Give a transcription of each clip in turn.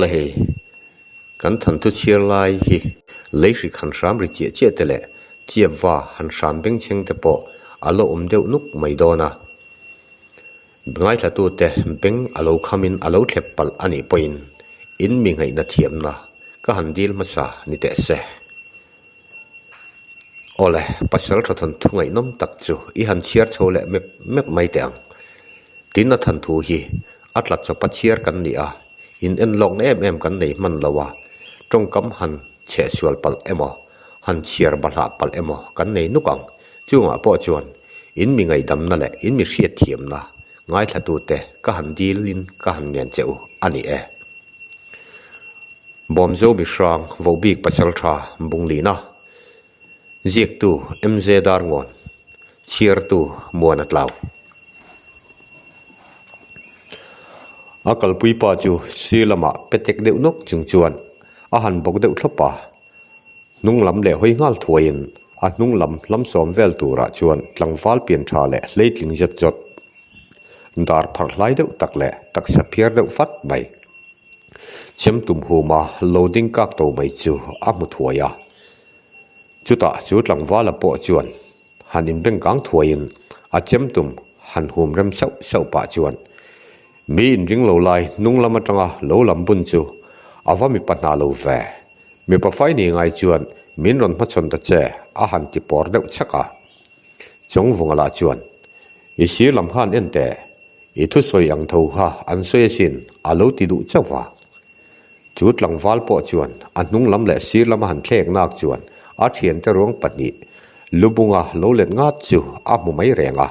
Awle hei kan thanthu chhiar lai hi lei hrik han hram ri chiah chiah te leh chiapva han hram beng chheng te pawh a la awm deuh nuk mai dawn a, ngaihlatute beng a lo khamin a lo thlep palh a nih pawhin in mi ngheihna thiamna ka han dil hmasa ni teh se. awle pasal tha than thu ngaihnawm tak chu i han chhiar chho leh mep mep mai teh ang tin a than thu hi a tla chawpa chhiar kan ni a in en lawng em em kan nei hman lo a tawngkam han chhe sual palh emaw han chhiar ba hlah palh emaw kan nei nuk ang chungah pawh chuan in mi ngaihdamna leh in mi hriatthiamna ngaithla tute ka han dil in ka han ngen che u a ni e. Bawmzo Mihrang Vobik Pachal Tha Bung Lihna Ziaktu MZ Darngawn Chhiartu Muana Tlau A kalpui pa chu sir lama petek deuh nawk chung chuan a han bawk deuh thlawp a, hnung lam leh hawi nghal thuaiin a hnung lam hlamsawm vel turah chuan tlangval pian tha leh hleitling zet zawt dar phar hlai deuh tak leh taksa phiar deuh fat mai. Chem tum huma lo ding kak tawh mai chu a hmu thuai a, chutah chu tlangvala pawh chuan han inbeng kang thuaiin a chem tum han hum rem sauh sauh pah chuan mi in ring lo lai hnung lam atanga lo lam bun chu a va mipa hna lo ve. Mipa fai ni ngai chuan min rawn hmachhawn ta che a han ti pawr deuh chek a. Chawng vawngah lah chuan, I sir lam kha an en teh, i thusawi ang tho kha an sawi asin, a lo ti duh chauh a. Chu tlangval pawh chuan a hnung lam leh sir lama han thlek nak chuan a thiante ruang pahnih lu bunga lo let ngat chu a hmu mai reng a.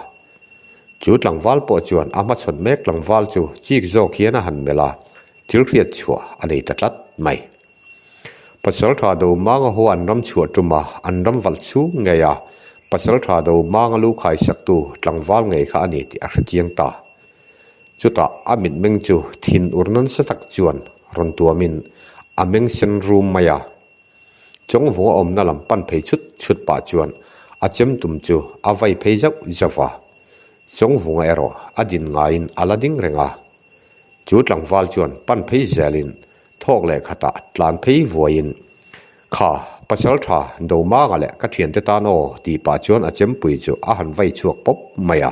Chu tlangval pawh chuan a hmachhawn mek tlangval chu chik zawk hian a han melh a, thil hriat chhuah a nei ta tlat mai. Pasal tha do hmanga haw an ram chhuah tum a, an ram valh chhung ngei a, pasal tha do hmanga lukhai saktu tlangval ngei kha a ni tih a hre chiang ta. Chutah a mitmeng chu thin ur nasa tak chuan rawn tuamin a meng sen rum mai a. Chawngvunga awmna lam pan phei chut chut pah chuan a chem tum chu a vai phei zauh zauh a, chawngvunga erawh a din ngaiin a la ding reng a. Chu tlangval chuan pan phei zelin. thawk leh khatah tlan phei vuaiin, Kha, pasal tha, do manga leh ka thiante tan aw tih pah chuan a chempui chu a han vai chhuak pawp mai a.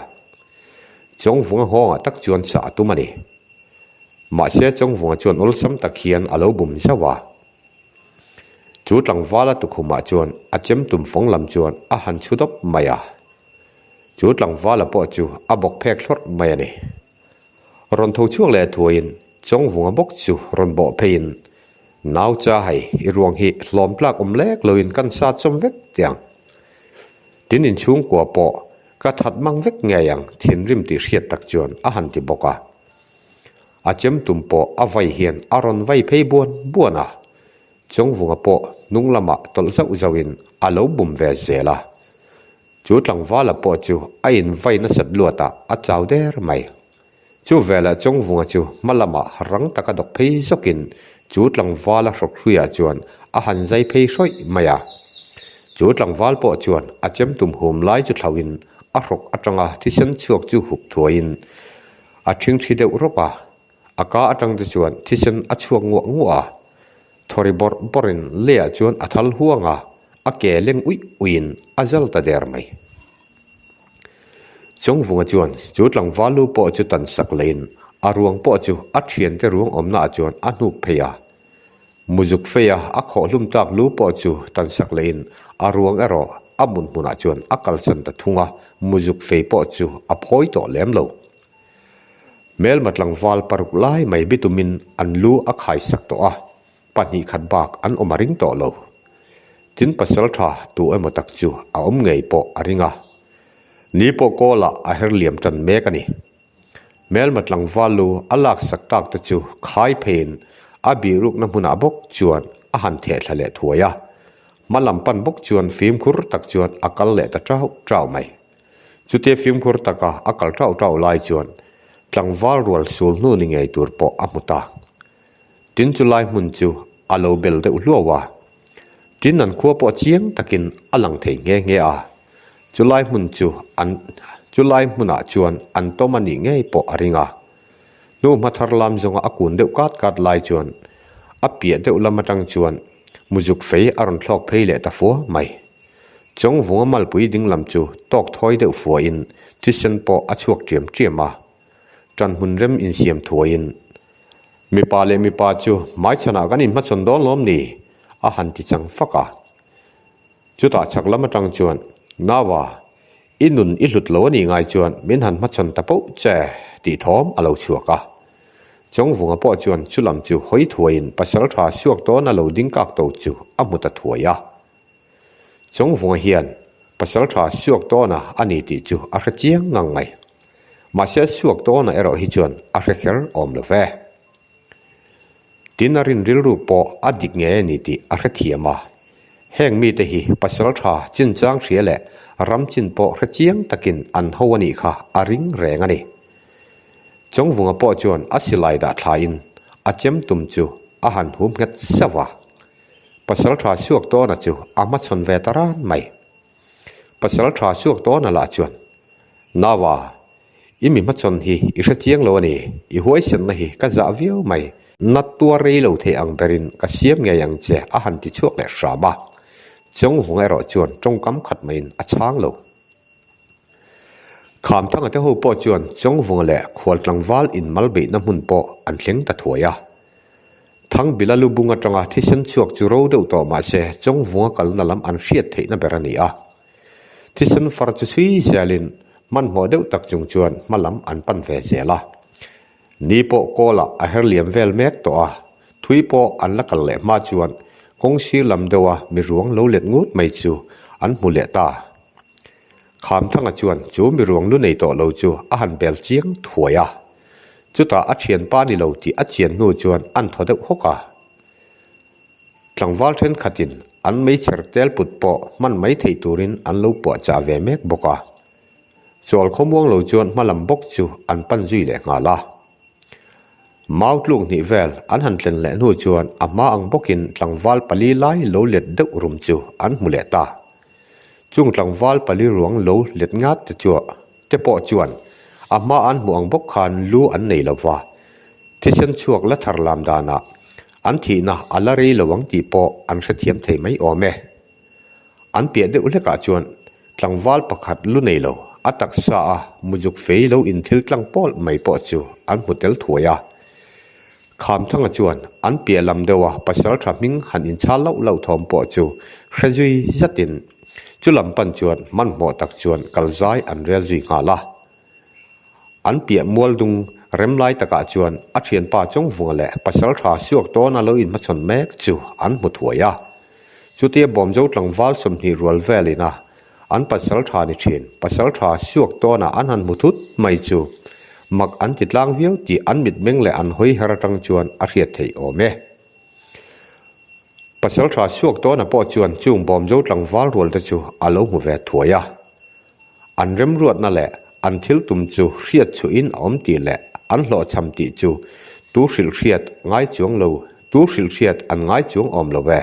Chawngvunga nghawngah tak chuan sa a tum a ni. Mahse Chawngvunga chuan awlsam tak hian a lo bum zauh a. Chu tlangvala tukhumah chuan a chem tum fawng lam chuan a han chhu dawp mai a. Chu tlangvala pawh chu a bawk phek thlawrh mai a ni. rawn tho chhuak leh thuaiin chawng vunga bawk chu rawn bawh pheiin nau cha hei i ruang hi hlawm tlak awm lek loin kan sa chawm vek tiang tin in chhungkua pawh ka that mang vek ngei ang thinrim tih hriat tak chuan a han ti bawk a a chem tum pawh a vai hian a rawn vai phei buan buan a. Chawngvunga pawh hnung lamah tawlh zauh zauhin a lo bum ve zel a, chu tlangvala pawh chu a invai nasat luatah a chau der mai. Chu velah Chawngvunga chu hma lamah rang taka dawk phei zawkin chu tlangvala hrawk hluiah chuan a han zai phei hrawih mai a. Chu tlangval pawh chuan a chem tum hum lai chu thlauhin a hrawk atanga thisen chhuak chu hup thuaiin a thingthi deuh rawp a. A ka atang te chuan thisen a chhuak nguah nguah a, thaw ri bawrh bawrh in Leah chuan a thal huang a, a ke leng uih uih in a zal ta der mai. Chawngvunga chuan chu tlangval lu pawh chu tan sak leh in a ruang pawh chu a thian te ruang awmna ah chuan a hnuk phei a. Muzuk fei a a khawh hlum tlak lu pawh chu tan sak leh in a ruang erawh a hmun hmun ah chuan a kalsan ta thung a, muzuk fei pawh chu a phawi tawh lem lo. Hmelma tlangval paruk lai mai bi tumin an lu a khai sak tawh a, pahnih khat bak an awm a ring tawh lo. Tin pasal tha tu emaw tak chu a awm ngei pawh a ring a, ni pawh kawlah a her liam tan mek a ni. Hmelma tlangval lu a lak sak tak te chu khai pheiin a bihrukna hmunah bawk chuan a han thehthla leh thuai a, hma lam pan bawk chuan fimkhur tak chuan a kal leh ta ṭau ṭau mai. Chute fimkhur taka a kal ṭauh ṭauh lai chuan tlangval rual sul hnu ni ngei tur pawh a hmu ta. Tin chu lai hmun chu a lo bel deuh hluau a, tin an khua pawh chiang takin a lang thei nghe nghe a, chu lai hmun chu an chu lai hmunah chuan an tawm a nih ngei pawh a ring a. Hnu hmathar lam zawnga a kun deuh kat kat lai chuan a piah deuh lam aṭang chuan muzuk fei a rawn thlawk phei leh ta fuar mai. Chawngvunga malpui dinglam chu tawk thawi deuh fuaiin thisen pawh a chhuak ṭiam ṭiam a. Ṭan hun rem insiam thuaiin, Mipa leh mipa chu hmaichhanah kan inhmachawn dawn lawm ni? a han ti chang fak a. Chutah chhak lam aṭang chuan, Nava, i nun i hlut lo a nih ngai chuan min han hmachhawn ta poh che tih thawm a lo chhuak a. Chawngvunga pawh chuan chu lam chu hawi thuaiin pasalṭha suak dawn a lo ding kak to chu a hmu ta thuai a. Chawngvunga hian Pasalṭha suak dawna a ni tih chu a hre chiang ngang mai. Mahse a suak dawna erawh hi chuan a hre kher awm lo ve. Tin a rinrilru pawh a dik ngei a ni tih a hre thiam a. Heng mite hi Pasalṭha chinchang hria leh ram chin pawh hre chiang takin an ho a nih kha a ring reng a ni. Chawngvunga pawh chuan a silai dah thlain a chem tum chu a han humnghet sava. Pasal tha chhuak tawna chu a hmachhawn ve ta ran mai. Pasal tha chhuak tawna lah chuan, Nava, i mi hmachhawn hi i hre chiang lo a ni, i huaisenna hi ka zah viau mai, na tuar rei lo thei ang berin ka siam ngei ang che a han ti chhuak leh hram a, Chawngvung erawh chuan tawngkam khat maiin a chhang lo. Khamthanga te ho pawh chuan Chawngvunga leh Khualtlangval inmalbeihna hmun pawh an thleng ta thuai a, Thangbila lubung atanga thisen chhuak chu ro deuh tawh mah se, chawngvunga kalna lam an hriat theihna ber a ni a. Thisen far chu sui zelin hmanhmawh deuh tak chung chuan hma lam an pan ve zel a. Ni pawh Kawlah a her liam vel mek tawh a, thui pawh an la kal leh hma chuan kawng sir lam deuha mi ruang lo let ngut mai chu an hmu leh ta. Khamthanga chuan chu mi ruanglu nei tawh lo chu a han bel chiang thuai a, chutah a thian pa ni lo tih a chian hnu chuan a nthaw deuh hawk a. Tlangval thenkhatin an meichher tel put pawh hman mai theih turin an lo puahchah ve mek bawk a, chawl khawmuang lo chuan hma lam bawk chu an pan zui leh nghal a. Mau tluk hnih vel an han tlen leh hnu chuan a hma ang bawkin tlangval pali lai lo let deuh rum chu an hmu leh ta. Chung tlangval pali ruang lo let ngat te chu te pawh chuan a hma an hmuh ang bawk khan lu an nei lo va, thisen chhuak la thar lam danah an thihna a la rei lo ang tih pawh an hrethiam thei mai awm e. An piah deuh hlekah chuan tlangval pakhat lu nei lo a taksa a muzuk fei lo in thil tlang pawl mai pawh chu an hmu tel thuai a. Khamthanga chuan an piah lam deuha pasal tha hming han inchhal loh loh thawm pawh chu hre zui zatin chu lam pan chuan hmanhmawh tak chuan kal zai an rel zui nghal a. An piah mual dung rem lai takah chuan a thianpa chawngvunga leh pasal tha suak tawna lo inhmachhawn mek chu an hmu thuai a. Chutia bawmjo tlangval sawmhnih rual velina. An pasal tha ni thin. Pasal tha siuak tawnah an han hmu thut mai chu mak an ti tlang viau tih an mitmeng leh an hawiher atang chuan a hriat theih awm e. Pasal tha siuak tawnah pawh chuan chung bawm zo tlangval rual te chu a lo hmu ve thuai a. An remruatna leh an thil tum chu hriat chhuahin a awm tih leh an hlawhchham tih chu tu hrilh hriat ngai chuang lo, tu hrilh hriat an ngai chuang awm lo e.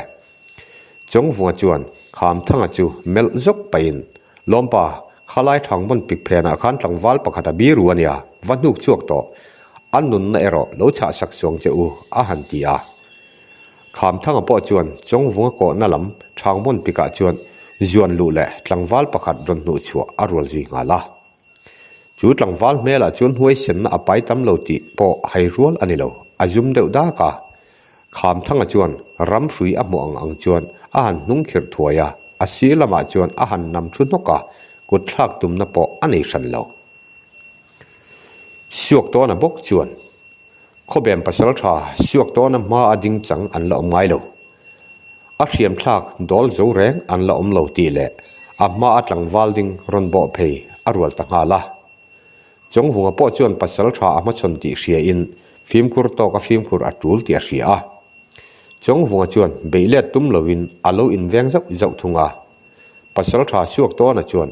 Chawngvua chuan Khamthanga chu melh zawk pahin, Lawmpa, kha lai thang vawn pik phenah khan tlangval pakhat a biru a nia, va hnuk chhuak tawh, a nunna erawh lo chhahsak chuang che u, a han ti a. Khamthanga pawh chuan Chawngvunga kawhna lam Thangvawn pikah chuan zuan luh leh tlangval pakhat rawn hnuh chhuah a rual zui nghal a. Chu tlangval hmelah chuan huaisenna a pai tam lo tih pawh hairual a ni lo, a zum deuh dak a. Khamthanga chuan ramhrui a hmuh ang ang chuan a han hnung khirh thuai a, a sir lamah chuan a han nam thu hnawk a, kutthlak tumna pawh a nei hran lo. Suak tawna bawk chuan khawbem pasal tha suak tawna hma a ding chang an la awm ngai lo. A hriamthlak dawl zo reng an la awm lo tih leh a hma a tlangval ding rawn bawh phei a rual ta nghal a. Chawngvunga pawh chuan pasal tha a hmachhawn tih hriain fimkhur tawk a fimkhur a tul tih a hria a. Chawngvunga chuan beih let tum loin a lo inveng zauh zauh thung a. Pasal tha suak tawnah chuan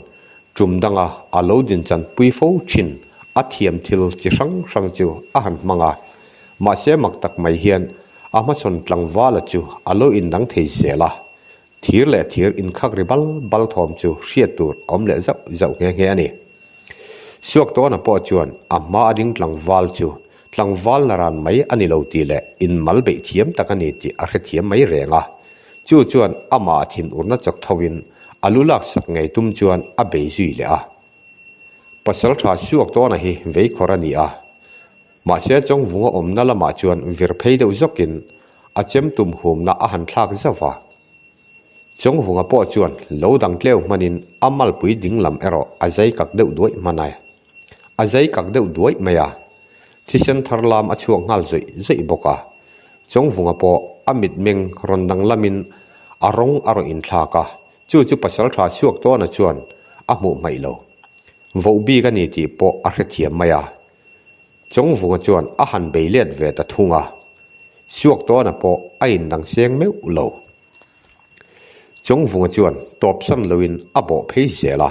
tum danga a lo din chan pui fo thin. A thiam thil chi hrang hrang chu a han hmang a, mahse mak tak mai hian a hmachhawn tlangvala chu a lo indang thei zel a. thir leh thir inkhak ri bal bal thawm chu hriat tur a awm leh zauh zauh nghe nghe a ni suak tawnah pawh chuan a hma a ding tlangval chu tlangval na ran mai a ni lo tih leh in mal beih thiam tak a ni tih a hrethiam mai reng a chu chuan amah thin urna chawk tho in a lu lak sak ngei tum chuan a bei zui leh a pasal tha suak tawnah hi vei khawr a ni a mahse chawngvunga awmna lamah chuan vir phei deuh zawk in A chem tum humna a han thlak zauh a, Chawngvunga pawh chuan lo dang tleu hmanin a malpui dinglam erawh a zai kak deuh duai hman a. A zai kak deuh duai mai a, thisen thar lam a chhuak nghal zawih zawih bawk a, Chawngvunga pawh a mitmeng rawn danglamin a rawng a rawn inthlak a, chu chu pasaltha chhuak tawnah chuan a hmuh hmaih lo. Voh bik a ni tih pawh a hrethiam mai a. Chawngvunga chuan a han bei let ve ta thung a, suak tawnah pawh a indang seng meuh lo. Chawngvunga chuan tawpsan loin a bawh phei zel a,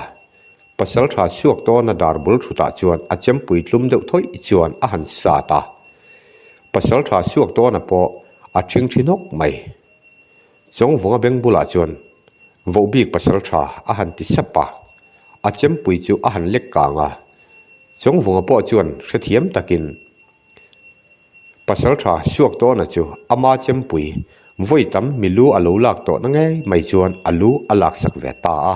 pasaltha suak tawna dar bul thutah chuan a chempui tlum deuh thawih chuan a han sat a, pasaltha suak tawnah pawh a thing thi hnawk mai. Chawngvunga beng bulah chuan voh bik pasaltha a han ti sap a, a chempui chu a han lek kang a, Chawngvunga pawh chuan hrethiam takin, Pasal tha suak tawna chu ama chempui vawi tam mi lu a lo lak tawhna ngei mai chuan a lu a laksak ve ta a.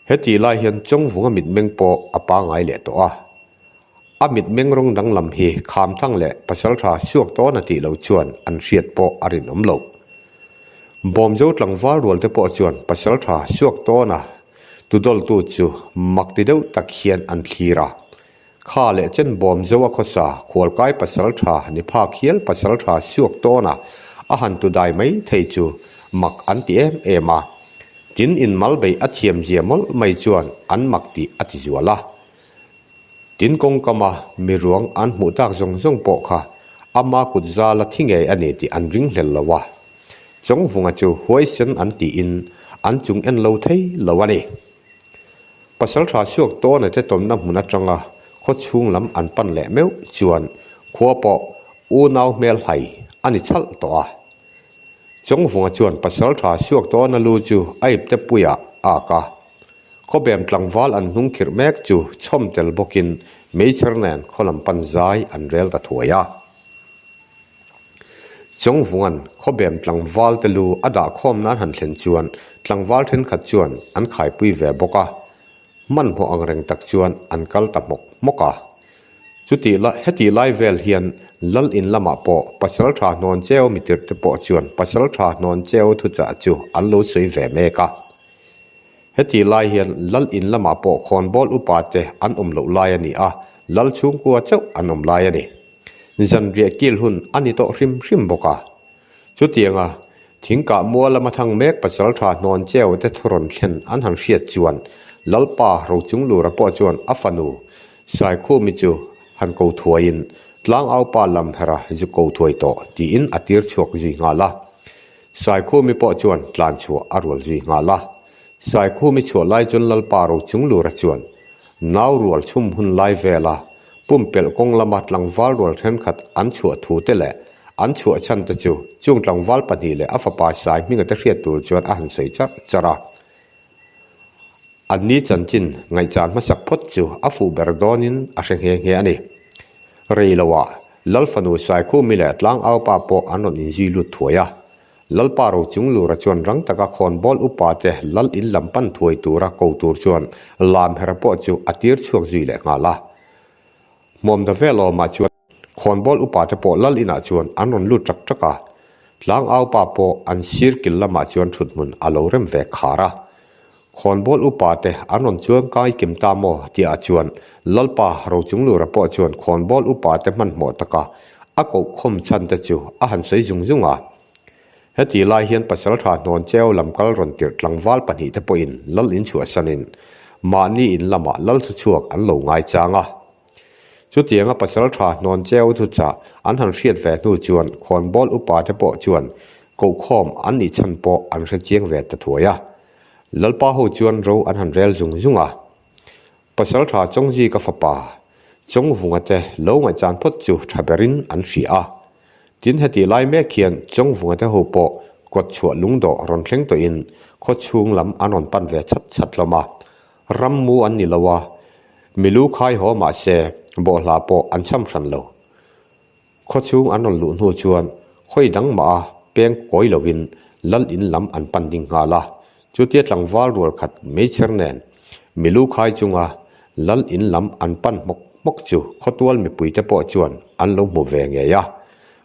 Hetih lai hian Chawngvunga mitmeng pawh a pangai leh tawh a. A mitmeng rawng danglam hi Khamthang leh Pasaltha suak tawna tih lo chuan an hriat pawh a rinawm lo. Bawmjo tlangval rual te pawh chuan Pasaltha suak tawna Tudawltu chu mak ti deuh tak hian an thlir a, kha leh chen bawm zo a khawsa, khualkai pasal tha ni phak hial pasal tha siuak tawn a, a han tu dai mai thei chu mak an ti em em a, tin in Malbei a thiam zia mawlh mai chuan an mak tih a ti zual a, tin kawngkama mi ruang an hmuh tak zawng zawng pawh kha ama kut zala thi ngei a ni tih an ring hlel lo a, Chawngvunga chu huai sen an ti in an chung en lo thei lo a ni. Pasaltha suak tawna te tawmna hmun atanga khawchhung lam an pan leh meuh chuan khua pawh unau hmel hlai a ni chalh tawh a. Chawngvunga chuan Pasaltha suak tawna lu chu a ip te puia ak a. Khawbem tlangval an hnung khirh mek chu chhawm tel bawkin meichher nen khaw lam pan zai an rel ta thuai a. Chawngvungan khawbem tlangval te lu a dah khawm nan han thlen chuan tlangval thenkhat chuan an khaipui ve bawk a, hmanhmawh ang reng tak chuan an kal ta hmawk hmawk a. Chuti la heti lai vel hian Lal in lamah pawh Pasal tha hnawn cheu mitirhte pawh chuan Pasal tha hnawn cheu thuchah chu an lo sawi ve mek a. Heti lai hian Lal in lamah pawh khawnbawl upa te an awm loh lai a ni a, Lal chhungkua chauh an awm lai a ni. Zanriah kil hun a ni tawh hrim hrim bawk a. Chutianga thingkah mual lama thang mek pachal tha hnawn cheu te thu rawn thlen an han hriat chuan Lalpa Rochunglura pawh chuan a fanu Saikhumi chu han ko thuaiin Tlangaupa Lamhera zu ko thuai tawh tiin a tir chhuak zui nghal a. Saikhumi pawh chuan tlan chhuah a rual zui nghal a, Saikhumi chhuah lai chuan Lalpa ro chung lura chuan nau rual chhum hun lai vela pumpelh kawng lama tlangval rual thenkhat an chhuah thu te leh an chhuah chhan te chu chung tlangval pahnih leh a fapa sai hming ata hriat tur chuan a han sawi char char a. Anni chanchin ngaihchah hmasak phawt chu a fuh ber dawnin a hre nghe nghe a ni. Reiloah Lalfanu Saikhu mi leh Tlangaupa pawh an rawn inzui lut thuai a. Lalpa Rochunglura chuan rang taka khawnbawl upa te lal in lam pan thuai tura ko tur chuan lam her pawh chu a tir chhuak zui leh nghal a. Hmawmda vel awmah chuan khawnbawl upa te pawh lal inah chuan an rawn lut ṭak ṭak a. Tlangaupa pawh an sir kil lamah chuan ṭhuthmun a lo rem ve khar a. Khawnbawl upa te an rawn chuang kai kem ta maw tia a chuan. Lalpa Rochung Lura pawh chuan Khawnbawl upa te hmanhmawh taka a kohkhawm chhan te chu a han sawi zung zung a. Heti lai hian Pasalṭha hnawn cheu lam kal rawn tirh tlangval pahnih te pawhin Lal in chhuahsanin mahni in lamah Lal thu chhuak an lo ngai chang a. Chutianga Pasalṭha hnawn cheu thu chah an han hriat ve hnu chuan Khawnbawl upa te pawh chuan kohkhawm an nih chhan pawh an hre chiang ve ta thuai a. Lalpa ho chuan ro an han rel zung zung a, Pasalṭha Chawngzika fapa Chawngvunga te lo ngaihchan phawt chu ṭha berin an hria a. Tin hetih lai mek hian Chawngvunga te ho pawh kawt chhuah lungdawh rawn thleng tawhin khawchhung lam an rawn pan ve chhat chhat hlawm a. Ram mu an ni lo a, mi lu khai haw mah se bawhhla pawh an chham hran lo. Khaw chhung an rawn luh hnu chuan khawi dang mah a peng kawi lovin Lal in lam an pan ding nghal a. Chutia tlangval rual khat mai chher nen mi lu khai chunga Lal in lam an pan hmawk hmawk chu khawtual mipui te pawh chuan an lo hmu ve ngei a.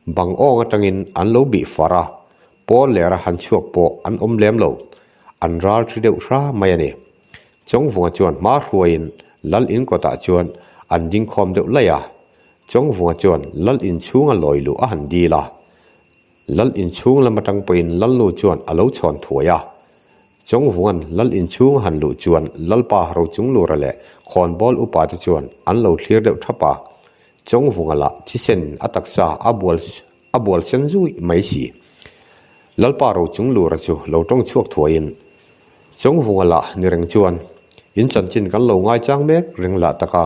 Bang awng atangin an lo bih far a, pawn leh ra han chhuak pawh an awm lem lo, an ral ṭhi deuh hra mai a ni. Chawngvunga chuan hma hruaiin Lal in kawtah chuan an dingkhawm deuh laih a, Chawngvunga chuan Lal inchhunga lawi luh a han dil a, Lal inchhung lam atang pawhin Lalnu chuan a lo chhawn thuai a. Chawngvungan Lal inchhung a han luh chuan Lalpa Rochunglura leh Khawnbawl upa te chuan an lo thlir deuh thap a, Chawngvunga lah thisen a taksa a bual a bual sen zui mai si. Lalpa Rochunglura chu lo tawng chhuak thuaiin Chawngvunga lah ni reng chuan, In chanchin kan lo ngai chang mek reng lah taka,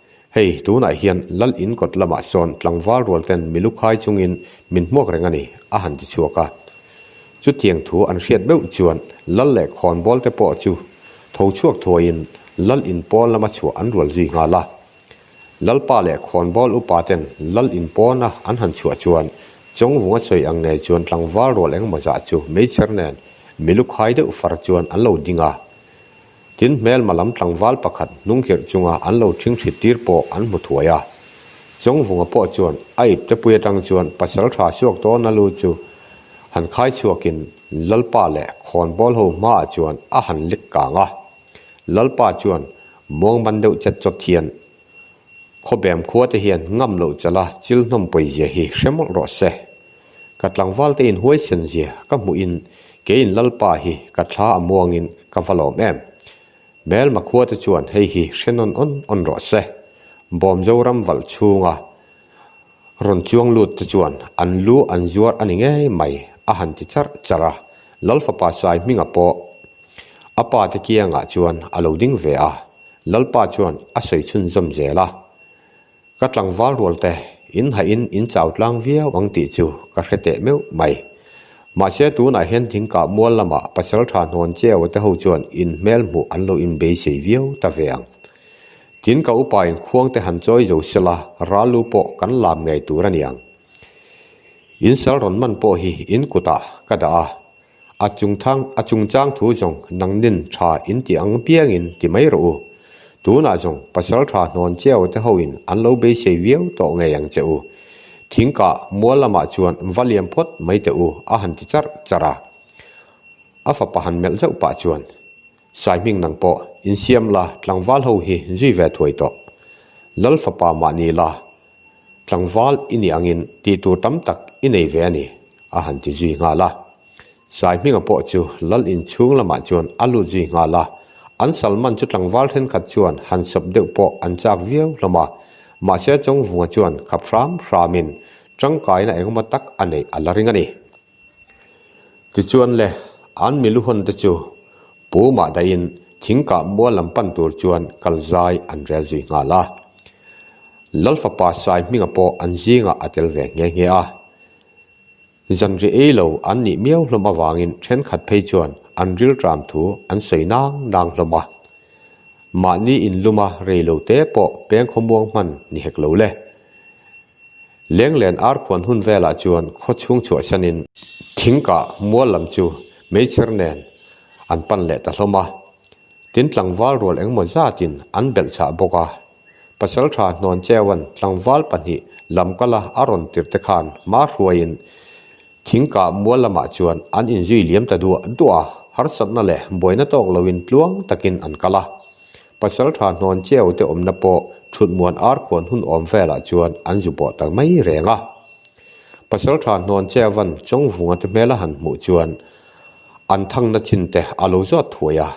Hei tunah hian Lal in kawt lamah sawn tlangval rual ten mi lukhai chungin min hmuak reng a ni, a han ti chhuak a. Chutiang thu an hriat meuh chuan Lal leh Khawnbawl te pawh chu tho chhuak thuaiin Lal in pawn lama chhuah an rual zui nghal a. Lalpa leh Khawnbawl upa ten Lal in pawna an han chhuah chuan Chawngvung a sawi ang ngei chuan tlangval rual engmawzah chu meichher nen mi lukhai deuh far chuan an lo ding a. Tin, hmelma lam tlangval pakhat hnungkhirh chunga an lo thing ṭhit tir pawh an hmu thuai a. Chawngvunga pawh chuan a iptepui aṭang chuan pasal ṭha suak dawna lu chu han khai chhuakin Lalpa leh khawnbawl ho hmaah chuan a han lik kang a. Lalpa chuan, Muangman deuh chet chawt hian khawbem khuate hian ngam loh chala chil hnawm pawi zia hi hre mawlh rawh se. Ka tlangvalte in huaisen zia ka hmuhin Keiin Lalpa hi ka thla a muangin ka va lawm em? Mel makhua te chuan hei hi hre nawn awn awn rawh se. Bawm Zoram valh chhunga rawn chuang lut te chuan an lu an zuar a ni ngei mai a han ti char char a. Lal fapa sai hminga pawh a pa te kiangah chuan a lo ding ve a, Lalpa chuan a sawi chhunzawm zel a. Ka tlangval rual te in haih in in chau tlang viau ang tih chu ka hre teh meuh mai. Mahse tunah hian Thingkah mual lamah pasal tha hnawn cheu te ho chuan in hmel hmuh an lo in beisei viau ta ve ang. Tin ka upa in khuang te han chawi zo sela ral lu pawh kan lam ngei tur a ni ang. In sal rawn man pawh hi in kutah ka dah a. a chung thang a chung chang thu zawng nang nin tha in ti ang piang in ti mai rawh u, tunah zawng pasal tha hnawn cheu te ho in an lo beisei viau tawh ngei ang che u, thing kah mual lamah chuan va liam phawt mai teh u a han ti char char a, a fapa han melh zauh pah chuan Saihming nang pawh insiam la tlangval ho hi zui ve thuai tawh, Lal fapa mah ni la. Tlangval i nih angin tih tur tam tak i nei ve a ni, a han ti zui nghal a. Sai hminga pawh chu Lal in chhung lamah chuan a lut zui nghal a, an Salman chu tlangval thenkhat chuan han sawp deuh pawh an chak viau hlawm a, mahse Chawngvunga chuan khap hram hramin tangkaina engemaw tak a neih a la ring a ni. Tichuan le, an mi luhawn te chu pu mah dahin thing kah mual lam pan tur chuan kal zai an rel zui nghal a. Lalfapa sai hminga pawh an zingah a tel ve nghe nghe a. Zanri ei lo an nih miau hlawm avangin thenkhat phei chuan an rilṭam thu an sawi nang nang hlawm a. Mahni in luma rei lo te pawh pengkhaw muang hman ni hek lo le, Lenglen arkhuan hun velah chuan khaw chhung chhuahsanin thingkah mual lam chu meichher nen an pan leh ta hlawm a, tin tlangval rual engemaw zatin an belh chah bawk a. Pasaltha hnawn cheuan tlangval pahnih lam kala a rawn tir te khan hma hruaiin thingkah mual lamah chuan an inzui liam ta duah duah a, harsatna leh buaina tawk loin tluang takin an kal a. Pasal tha hnawn cheu te awmna pawh thutmuan arkhuan hun awm velah chuan an zu bawh tak mai reng a. Pasal tha hnawn chevan chawngvunga te hmela han hmuh chuan an thangna chin te a lo zawt thuai a,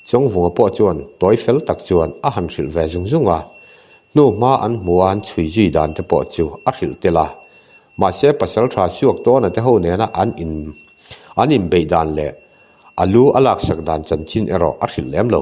chawngvunga pawh chuan tawi fel tak chuan a han hrilh ve zung zung a, hnu hma an hmu a an chhui zui dan te pawh chu a hrilh tel a. Mahse pasal tha suak tawna te ho nena an in an inbeih dan leh a lu a laksak dan chanchin erawh a hrilh lem lo.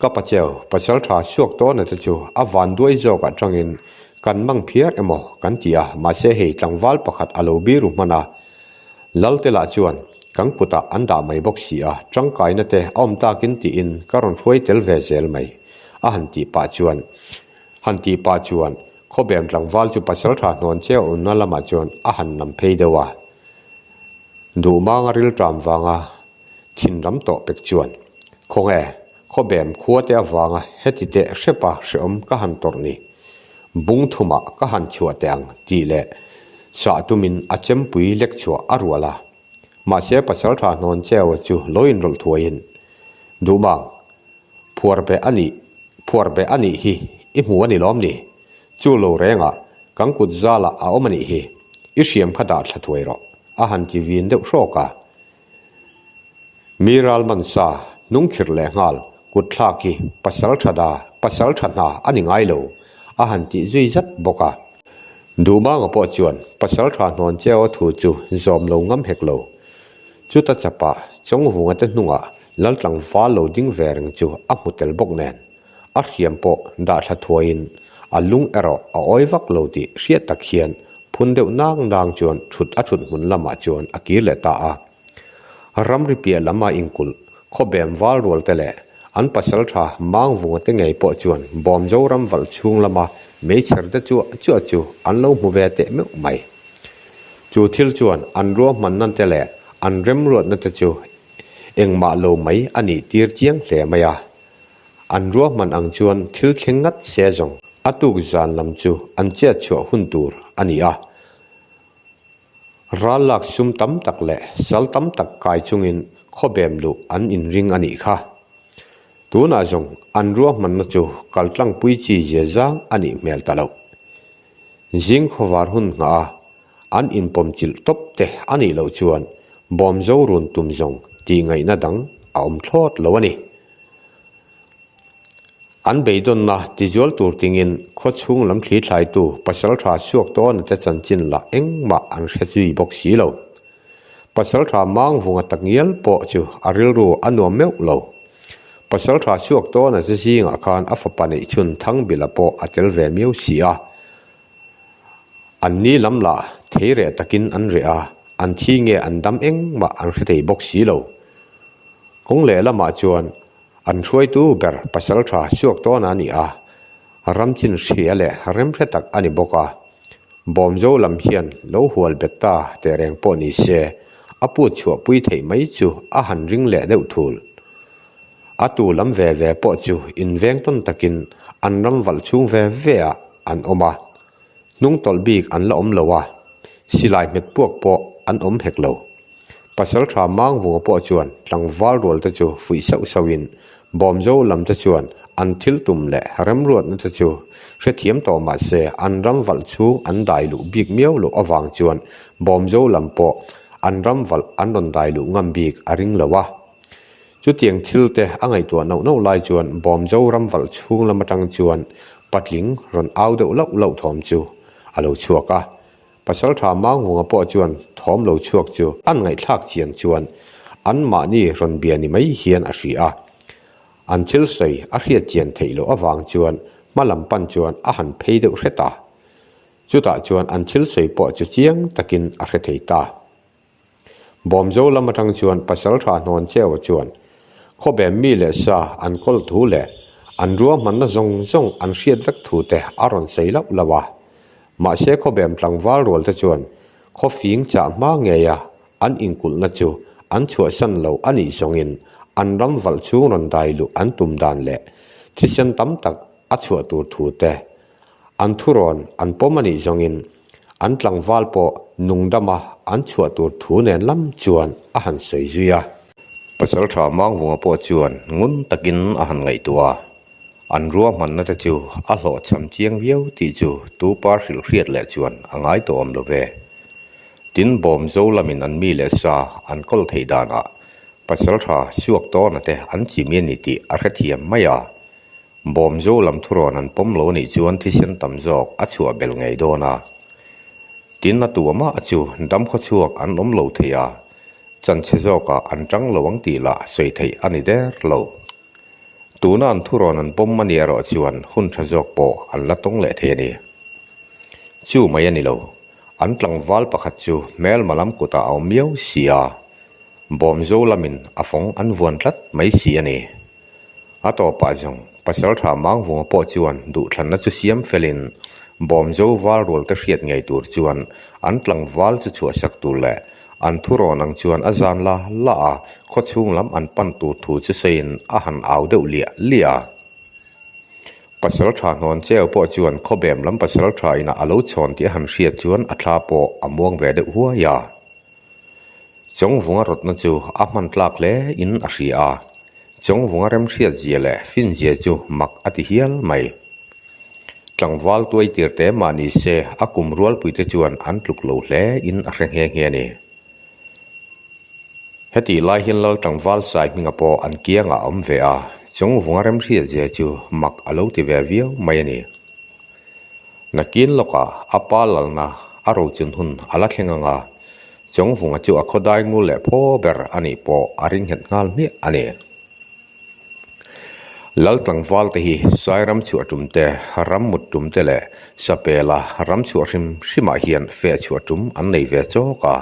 Ka pacheu, pachal tha suak tawn a te chu a van duai zawk ah tangin kan mang phiar emaw kan ti a, mahse hei tlangval pakhat a lo biru hman a Lalte lah chuan kan kutah an dah mai bawk si a, tangkaina te a awm takin tiin ka rawn hruai tel ve zel mai a han tih pah chuan han tih pah chuan khawbem tlangval chu pachal tha hnawn che a unna lamah chuan a han nam phei deuh a, duh manga rilṭam vanga. Thinlam tawh pek chuan, Khawnge khawbem khua te avanga heti te hrepa hrehawm ka han tawrh ni? Bungthuma ka han chhuah teh ang tih leh sah tumin a chempui lek chhuah a rual a. Mahse pasal tha hnawn chewa chu lawiin rawlh thuaiin, Duhmang, phuar be a nih, phuar be a nih hi i hmu a ni lawm ni? Chu lo renga kan kut zalah a awm a nih hi, i hriam kha dah thla thuai rawh, a han ti vin deuh hrawk a. Mi ral man sa, hnung khirh leh nghal, kut thlak hi pasal tha da, pasal tha hna a ni ngai lo, a han tih zui zat bawk a. Duhmanga pawh chuan pasal tha hnawn che aw thu chu zawm lo ngam hek lo. Chuta chapah, Chawngvunga te hnungah Laltlangval lo ding ve reng chu a hmu tel bawk nen. a hriam pawh dah thla thuaiin a lung erawh a awi vak lo tih hriat tak hian phun deuh nang nang chuan thut a thut hmun lamah chuan a kir leh ta a. Ramri piah lama inkulh khawbem val rual te leh an pasal tha mang vunga te ngei pawh chuan bawm Zoram valh chhung lama meichher te chuah chuah chu an lo hmu ve teh meuh mai. Chu thil chuan an ruahmanna te leh an remruatna te chu engmah lo mai a nih tir chiang hle mai a, An ruahman ang chuan thil thleng ngat se zawng a tuk zan lam chu an chiat chhuah hun tur a ni a. Ral lak sum tam tak leh sal tam tak kai chungin khawbem luh an inring a nih kha. Tunah zawng an ruahmanna chu kal tlangpui chi zia zang a nih hmel ta lo. Zing khawvar hun hnga a an inpawm chilh tawp te a nih loh chuan bawmzo run tum zawng tih ngaihna dang a awm thlawt lo a ni. An beidawnna tizual tur tingin khawchhung lam thli thlaitu pasaltha suak tawna te chanchin lah engmah an hre zui bawk si lo. Pasaltha mangvunga tak ngial pawh chu a rilru a nuam meuh lo. Pasaltha suak tawna te zingah khan a fapa neihchhun Thangbila pawh a tel ve miau si a. An ni lam lah thei reh takin an reh a, an thi nge an dam engmah an hre thei bawk si lo. Kawng leh lamah chuan an hruaitu ber pasal tha siuak tawn a ni a, ram chin hria leh rem hre tak a ni bawk a. Bawm zo lam hian lo hual bet ta teh reng pawh ni se, a put chhuah pui theih mai chu a han ring leh deuh thul. a tu lam ve ve pawh chu in veng tawn takin an ram valh chhung ve ve ah an awm a, hnung tawlh bik an la awm lo a, silai hmet puak pawh an awm hek lo. Pasal tha mangvunga pawh chuan tlangval rual te chu fuih sauh sauh in bawm zo lam te chuan an thil tum leh remruatna te chu hrethiam tawh mah se an ram valh chhung an dai luh bik miau loh avang chuan bawm zo lam pawh an ram valh an rawn dai luh ngam bik a ring lo a. Chutiang thil te a ngaihtuah nauh nauh lai chuan Bawm Jo ram valh chhung lam atang chuan patling rawn au deuh lauh lauh thawm chu a lo chhuak a, Pasalṭha Mangawnga pawh chuan thawm lo chhuak chu an ngaihthlak chian chuan an mahni rawn bia ni mai hian a hria. An thil sawi a hriat chian theih loh avang chuan hma lam pan chuan a han phei deuh hre ta. Chutah chuan an thil sawi pawh chu chiang takin a hre thei ta. Bawmzo lam atang chuan pasaltha hnawn cheu chuan khawbem mi leh sa an kawl thu leh an ruahmanna zawng zawng an hriat vek thu te a rawn sawi lauh lauh a. Mahse khawbem tlangval rual te chuan khawfing chah hma ngeia an inkulhna chu an chhuahsan lo a nih zawngin an ramvalh chhung rawn dai luh an tum dan leh thisen tam tak a chhuah tur thu te An thu rawn an pawm a nih zawngin an tlangval pawh nungdama an chhuah tur thu nen lam chuan a han sawi zui a. Pasal tha Manghunga pawh chuan ngun takin a han ngaihtuah a, an ruahmanna te chu a hlawh chham chiang viau tih chu tupa hrilh hriat leh chuan a ngai tawh awm lo ve. Tin, bawm zo lamin an mi leh sa an kawl theih danah pasal tha chhuak tawnate an chim i a ni tih a hrethiam mai a. Bawm zo lam thurawn an pawm lo nih chuan thisen tam zawk a chhuah bel ngei dawn a. Tin a tuam a chu dam khaw chhuak an awm lo thei a, chanchhe zawkah an tang lo ang tih lah sawi theih a ni der lo. Tuna an thurawn an pawm a nih erawh chuan hun tha zawk pawh an la tawng leh thei a ni. Chu mai a ni lo, an tlangval pakhat chu hmelma lam kutah a awm miau si a, bawm zo lamin a fawng an vuan tlat mai si a ni. A tawpah zawng Pasaltha Mangvunga pawh chuan duhthlanna chu siam felhin bawm zo val rualte hriat ngei tur chuan an tlangval chu chhuahsak tur leh an thu rawn ang chuan a zan la la a, khawchhung lam an pan tur thu chu sawiin a han au deuh liah liah a. Pasaltha hnawn cheu pawh chuan khawbem lam Pasaltha inah a lo chhawn tih a han hriat chuan a thla pawh a muang ve deuh huai a. Chawngvunga rawtna chu a hman tlak hle in a hria a, chawngvunga remhriat zia leh fin zia chu mak a ti hial mai. Tlangval tuai tir te mah ni se a kum rualpui te chuan an tluk lo hle in a hre nghe nghe a ni. Hetih lai hian Laltlangval sai hminga pawh an kiang a awm ve a, chawngvunga remhriat zia chu mak a lo ti ve viau mai a ni. Nakin lawka a pa lalna a rochun hun a la thleng anga Chawngvunga chu a khawdai ngul leh pho ber a nih pawh a ring nghet nghal hmiah a ni. Lal tlangvalte hi Sairam chhuah tumte, ram mut tumte leh Sapela ram chhuah hrim hrimah hian feh chhuah tum an nei ve chawk a.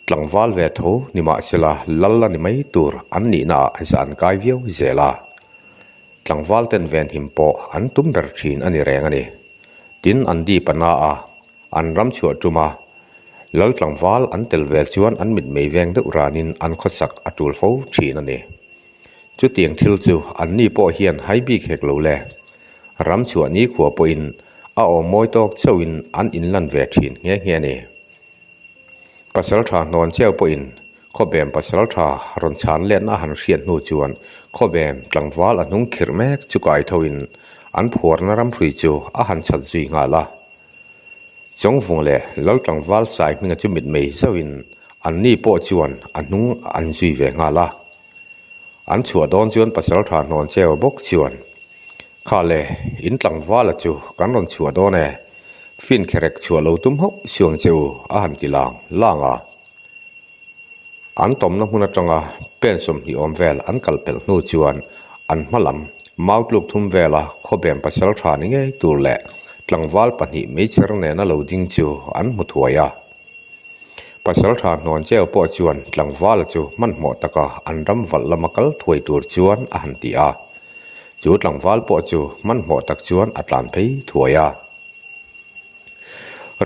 Tlangval ve tho ni mah sela lal a ni mai tur an nihna ah zan kai viau zel a, tlangval ten venhim pawh an tum ber thin a ni reng a ni. Tin an dip a na a, an ram chhuah tum a, lal tlangval an tel vel chuan an mit mei veng deuh ran in an khawsak a tul fo thin a ni. Chutiang thil chu an ni pawh hian hai bik hek lo le, ram chhuah nikhua pawhin a awm mawi tawk chauhin an inlan ve thin nghe nghe a ni. Pasal tha hnawn chiau pawhin khawbem pasal tha rawn chhan let na a han hriat hnu chuan khawbem tlangval a hnung khirh mek chu kai thoin an phuarna ramhrui chu a han chhat zui nghal a. Chawngvung leh Laltlangval saihminga chu mitmei zauhin anni pawh chuan a hnung an zui ve nghal a. an chhuah dawn chuan pasalṭha hnawn che a bawk chuan kha le in tlangvala chu kan rawn chhuah dawn e fin kherek chhuah lo tum hauh chuang che u a han ti lang lang a an tawmna hmun aṭanga pen sawmhnih awm vel an kal pelh hnu chuan an hma lam mau tluk thum vela khawbem pasalṭha ni ngei tur leh tlangval pahnih meichher nena lo ding chu an hmu thuai a. Pasalṭha hnuan cheu pawh chuan tlangvala chu hmanhmawh taka an ram valh lama kal thuai tur chuan a han ti a, chu tlangval pawh chu hmanhmawh tak chuan a tlan phei thuai a.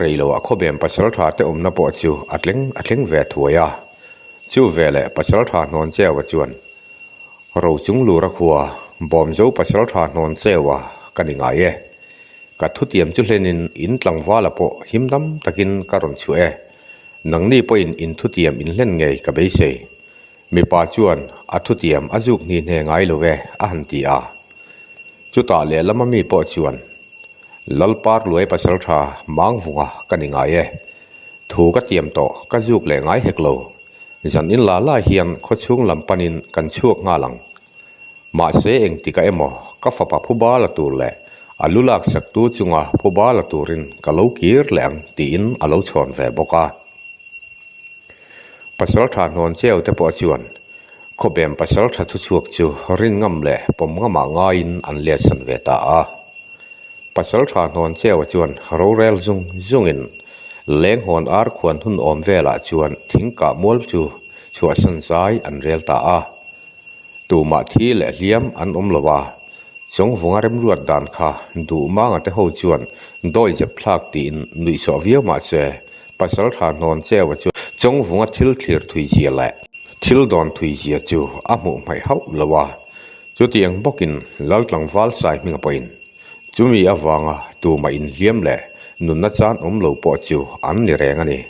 Reiloah khawbem pasalṭha te awmna pawh chu a tleng a thleng ve thuai a, chu veleh pasalṭha hnuan cheua chuan ro chunglura khua bawm zo pasalṭha hnuan cheua ka ni ngai e. Ka thutiam chu hlenin in tlangvala pawh him dam takin ka rawn chhuah e. Nangni pawhin in thutiam in hlen ngei ka beisei. Mipa chuan a thutiam a zuk hni hne ngai lo e a han ti a. Chutah lehlama mi pawh chuan, Lalpar luai pasal tha mangvunga ka ni ngai e. Thu ka tiam tawh ka zuk leh ngai hek lo. Zan in la lai hian khawchhung lam panin kan chhuak nghal ang. Mahse engtik a emaw, ka fapa phu bala tur leh a lu lak saktu chunga phu bala turin ka lo kir leh ang tiin a lo chhawn ve bawk a. Pasal tha hnawn cheu te pawh chuan khawbem pasal tha thu chhuak chu rin ngam leh pawm ngamah ngaiin an liatsan ve ta a. Pasal tha hnawn cheu-a chuan rorel zung zungin lenghawn ar khuan hun awm velah chuan thingkah mual chu. chhuahsan zai an rel ta a, tumah thi leh hliam an awm lo a, chawngvunga remruat dan kha duh mangate ho chuan dawi zep thlak tiin nuih chawh viau mah che, Pasaltha hnawn cheua chuan chawngvunga thil thlir thuizia leh thil dawn thuizia chu a hmuh hmaih hauh lo a, chutiang bawkin Laltlangval saihminga pawhin Chumi avanga tuma inhliam leh nunna chan awm lo pawh chu an ni reng a ni.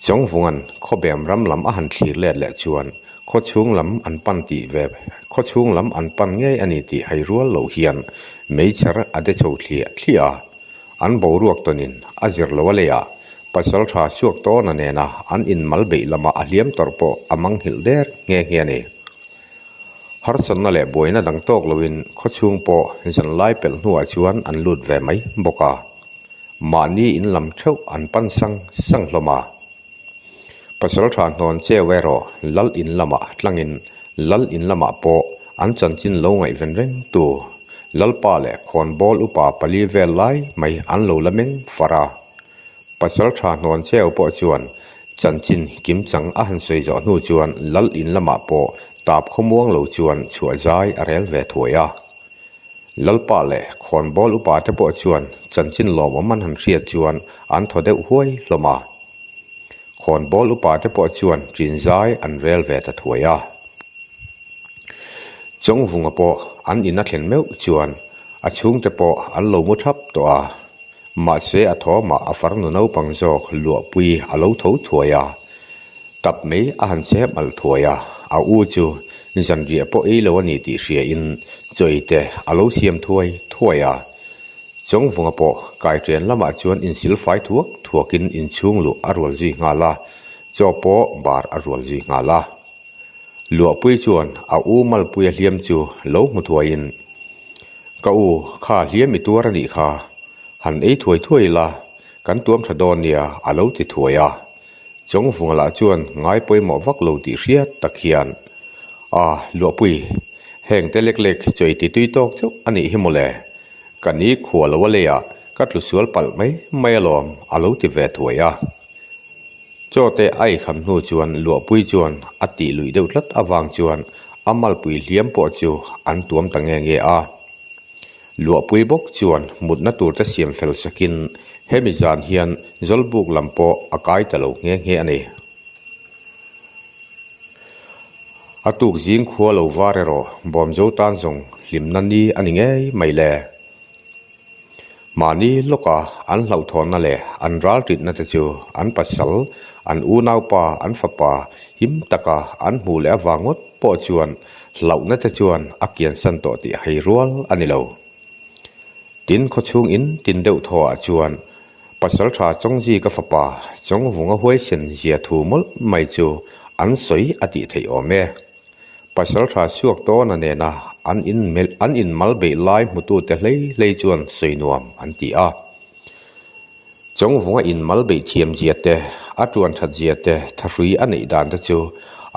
Chawngvunga'n khawbem ram lam a han thlir let leh chuan khawchhung lam an pan tih ve khawchhung lam an pan ngei a ni tih hai rual loh hian meichhar a de chho thliah thliah a. An boruak tawnin a zir lo a lei a, pasal tha suak tawna nena an inmal beih lama a hliam tawrh pawh a manghilh der nghe nghe a ni. Harsatna leh buaina dang tawk loin khawchhung pawh zanlai pelh hnuah chuan an lut ve mai bawk a, mahni in lam theuh an pan sang sang hlawm a. Pasalṭha hnawn che weh rawh, Lal in lamah tlangin Lal in lamah pawh an chanchin lo ngaih ven reng tu Lalpa leh Khawnbawl upa pali vel lai mai an lo la meng farh a. Pasal tha hnuan cheu pawh chuan chanchin kim chang a han sawi zawh hnu chuan Lal in lamah pawh tap khawmuang lo chuan chhuah zai a rel ve thuai a. Lalpa leh Khawnbawl upa te pawh chuan chanchin lawmawm an han hriat chuan an thaw deuh huai hlawm a. Khawnbawl upa te pawh chuan ṭin zai an rel ve ta thuai a. Chawngvunga pawh an in a thlen meuh chuan a chhungte pawh an lo mu ṭhap tawh a. Mahse a thawmah a farnu naupang zawk luahpui a lo tho thuai a, tap mai a han che hmalh thuai a, a u chu zanriah pawh ei lo a ni tih hriain chawite a lo siam thuai thuai a, chawngvunga pawh kaithian lamah chuan insil fai thuak thuakin inchhung luh a rual zui nghal a, chaw pawh bar a rual zui nghal a. Luahpui chuan a u Malpuia hliam chu lo hmu thuaiin, Ka u, kha hliam i tuar a nih kha, han ei thuai thuai ila kan tuam tha dawn nia a lo ti thuai a. Chawngvunga lah chuan ngai pawimawh vak lo tih hriat tak hian, A, Luahpui, heng te lek lek chawi ti tui tawk chauh a nih hi maw le, ka ni khua lo a leiah ka tlusual palh mai mai alawm a lo ti ve thuai a. Chawte aihkhan hnu chuan Luahpui chuan a tih luih deuh tlat avang chuan a malpui hliam pawh chu an tuam ta nge nge a. Luahpui bawk chuan mutna turte siam fel sakin hemi zan hian Zawlbuk lam pawh a kai ta lo nghe nghe a ni. A tuk zing khua lo var erawh Bawmzo tan zawng hlimna ni a ni ngei mai le. Mahni lawka an hlauhthawnna leh an ralritna te chu an pasal, an unaupa, an fapa him taka an hmuh leh avang ngawt pawh chuan hlauhna te chuan a kiansan tawh tih hei rual a ni lo. Tin, khawchhung in tin deuh thaw ah chuan Pasalṭha Chawngzhi ka fapa Chawngvunga huaisen zia thu mawlh mai chu an sawi a tih theih awm e. Paisalṭha chhuak tawna nena an in melh an in mal beih lai hmutute hlei hlei chuan sawi nuam an ti a. Chawngvunga in mal beih thiam zia te, a ṭuan ṭhat zia te, thahrui a neih dan te chu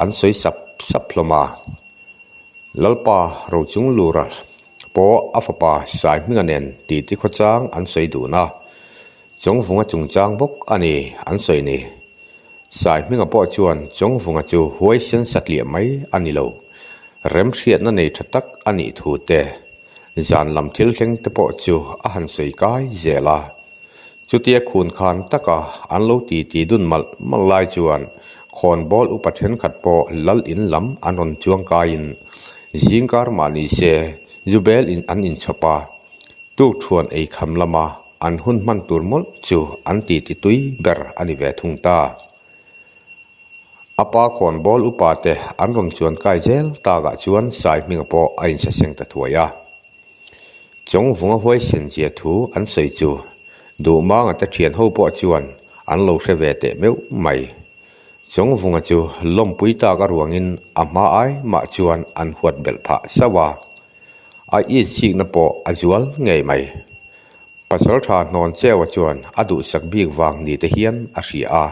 an sawi sap sap hlawm a. Lalpa Rochung Lura pawh a fapa Saihminga nen titi khaw chang an sawi dun a. Chawngvunga chungchang bawk a ni an sawi ni. Saihminga pawh chuan Chawngvunga chu huai sen satliah mai a ni lo. Remhriatna nei tha tak a nih thu te, zan lam thil thleng te pawh chu a han sawi kai zel a. Chutia khun khan taka an lo ti ti dun malh malh lai chuan Khawnbawl upa thenkhat pawh lal in lam an rawn chuang kaiin zingkar mah ni se Zubel in an inchhawp a. Tukṭhuan ei kham lama an hun hman tur mawlh chu an titi tui ber a ni ve thung ta. A pa khawn ball upa te an rawn chuan kai zel takah chuan sai hminga pawh a insa seng ta thuai a. Chawngvunga huaisen zia thu an sawi chu duhmanga te thian ho pawh chuan an lo hre ve teh meuh mai. Chawngvunga chu lawmpui tak a ruangin a hma ai mah chuan an huat belh phah sauh a. A itsikna pawh a zual ngei mai. Pasalṭha hnawn cheua chuan a duhsak bik vang ni te hian a hria a,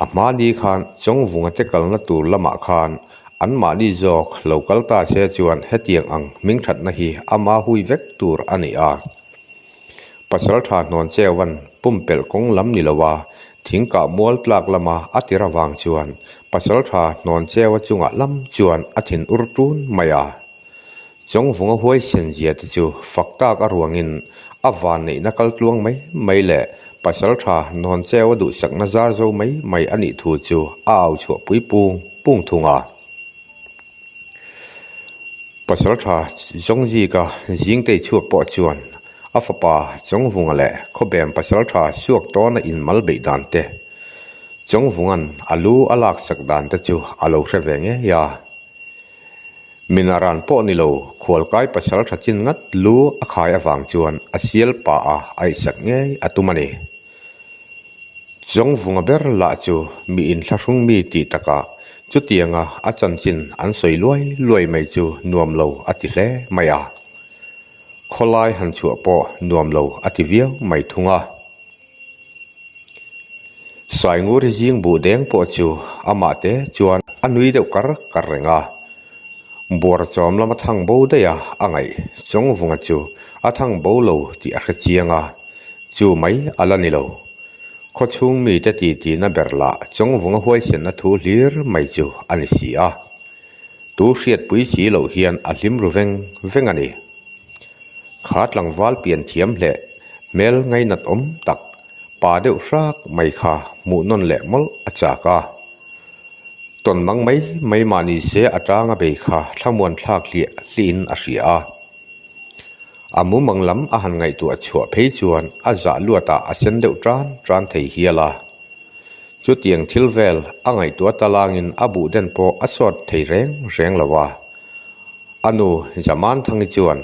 a hmani khan chawngvunga te kalna tur lamah khan anmahni zawk lo kal ta se chuan hetiang ang hmingthatna hi ama hui vek tur a ni a. Pasalṭha hnawn cheua'n pumpelh kawng lam ni lova thing kah mual tlak lama a tir avang chuan pasalṭha hnawn cheua chunga lam chuan a thin ur ṭun mai a. Chawngvunga huaisen zia te chu fak tak a ruangin a van neihna kal tluang mai mai leh pasal tha nawn cheu a duhsakna zar zo mai mai a nih thu chu a au chhuah pui pung pung thung a. Pasal tha Zawngzika Zingtei chhuak pawh chuan a fapa Chawngvunga leh khawbem pasal tha suak tawna inmal beih dan te, Chawngvungan a lu a laksak dan te chu a lo hre ve ngei a. Mina ran pawh ni lo, khualkai pasal tha chin ngat lu a khai avang chuan a sial pa a aih sak ngei a tum a ni. Zawngvunga ber lah chu mi inthlahrung mi tih taka chutianga a chanchin an sawi luai luai mai chu nuam lo a ti hle mai a. Khawlai han chhuah pawh nuam lo a ti viau mai thung a. Saingur hi zing buh deng pawh chu amah te chuan a nui deuh kar kar reng a, buara chawm lama thang bo daihah a ngaih chawng vunga chu a thang bo lo tih a hre chiang a, chu mai a la ni lo. Khaw chhung mite titihna ber lah chawng vunga huaisenna thu hlir mai chu a ni si a. Tu hriatpui si loh hian a hlim ru veng veng a ni. Kha tlangval pian thiam hle, hmel ngainat awm tak, pa deuh hrak mai kha hmuh nawn leh mawlh a chak a. Tawn mang mai mai mahni se atanga bei kha thlamuan thlak hliah hlihin a hria a. A mumang lam a han ngaihtuah chhuah phei chuan a zah luatah a sen deuh ṭan ṭan thei hial a. Chutiang thil vel a ngaihtuah talangin a buhden pawh a chhuat thei reng reng lo a. A nu Zamanthangi chuan,